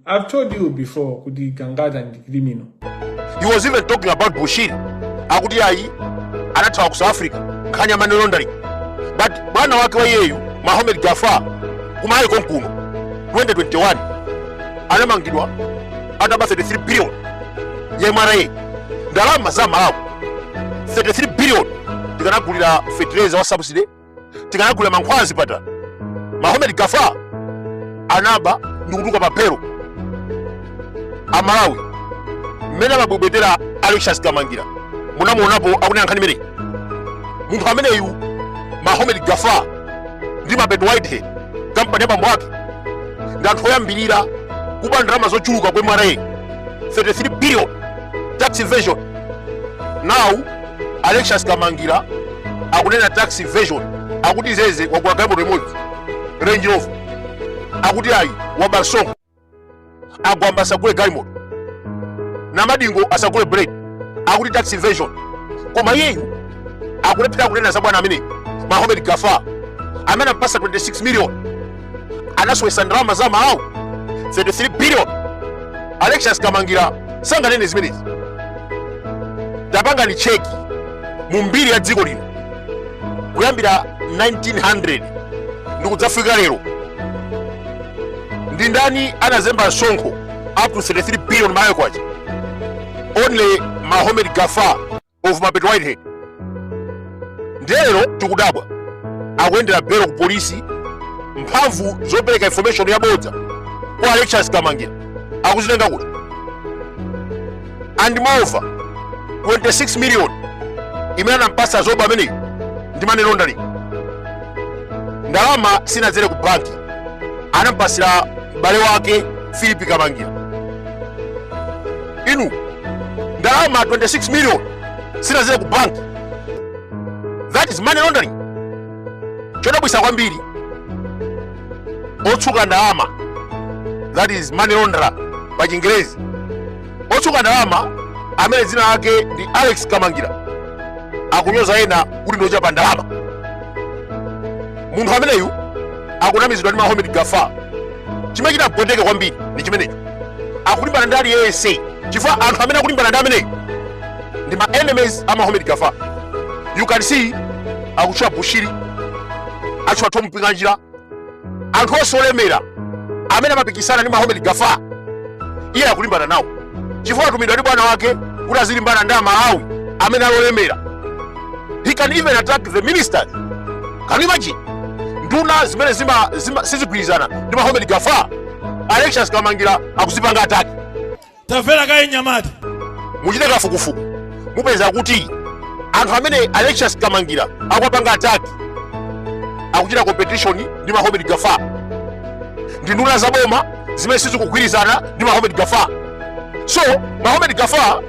I've told you before kuti Gangata ndi criminal. He was even talking about Bushiri. Akuti ayi anathawa ku South Africa nkhani ya money laundering. But bwana wake wa iyeyu Mahomed Gafar ku Malawi konkuno 2021 anamangidwa ataba 33 billion ya MRA ndalama za Malawi 33 billion tikanagulira fertilizer wa subsidy tikanagulira mankhwala m'zipatala mahomed gafar anaba ndikutuluka pa belo amalawi mmene amabwebwetera alexious kamangira munamuonapo akunena nkhani imeneyi munthu ameneyu mahomed gafar ndi mapeto whitehead kampani ya bambo ake ndi anthu oyambirira kuba ndalama zochuluka ku mra 33 billion tax evasion now Alexious Kamangila akunena tax evasion akuti zeze wagula galimoto imodzi Range Rover akuti ayi waba song gwamba asagule galimoto namadingo asagule bread akuti tax evasion koma iyeyu akulephera kunena za bwana ameneyu Mahomed Gafar amene anampasa 26 million anasowesa ndalama za amalawi 33 billion alexious kamangira sanganene zimenezi tapangani cheki mu mbiri ya dziko lino kuyambira 1900 ndi kudzafika lero ndi ndani anazemba msonkho up to 33 billion malawi kwacha only mahomed gafar of mapeto whitehead ndiye lero tikudabwa akuyendera belo ku polisi mphamvu zopereka information yabodza kwa alexious kamangira akuzitenga kuti and moreover 26 million imene anampasa zoba ameneyi ndi money laundering ndalama sinadzere ku banki anampasira m'bale wake philip kamangira inu ndalama 26 million sinadzere ku bank that is money laundering chodabwisa kwambiri otsuka ndalama that is money launderer pa chingerezi otsuka ndalama amene dzina lake ndi alex kamangira akunyoza ena kuti ndiochapa ndalama munthu ameneyu akunamizidwa ndi mahomed gafar chimene chinandipweteka kwambiri ndi chimenecho akulimbana ndi aliyense chifukwa anthu amene akulimbana ndi ameneyo ndi ma enemies a mahomed gafar you can see akutchula bushiri atchula thom mpinganjira anthu onse olemera amene amapikisana ndi mahomed gafar iye akulimbana nawo chifukwa atumidwa ndi bwana wake kuti azilimbana ndi amalawi amene ali olemera he can even attack the ministers can you imagine nduna zimene zima, zima sizigwirizana ndi mahomed gafar alexious kamangila akuzipanga attack tamvera kaye mnyamata muchite kafukufuku mupeza kuti anthu amene alexious kamangila akuwapanga attack akuchita competition ndi mahomed gafar ndi nduna za boma zimene sizikugwirizana ndi mahomed gafar so mahomed gafar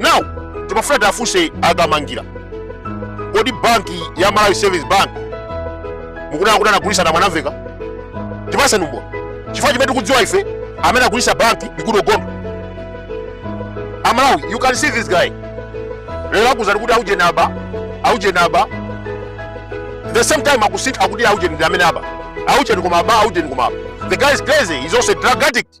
now timafuna tiwafunse a kamangila kodi banki ya malawi savings bank mukunena kuti anagulisa na mwanamvekha tipaseni umboni chifukwa chimene tikudziwa ife amene agulisa banki ndi goodall gondwe amalawi you can see this guy lero akuuzani kuti aujeni aba aujeni aba the same time akusintha akuti aujeni ndi amene aba aujeni koma aba aujeni koma aba the guy is crazy he's also a drug addict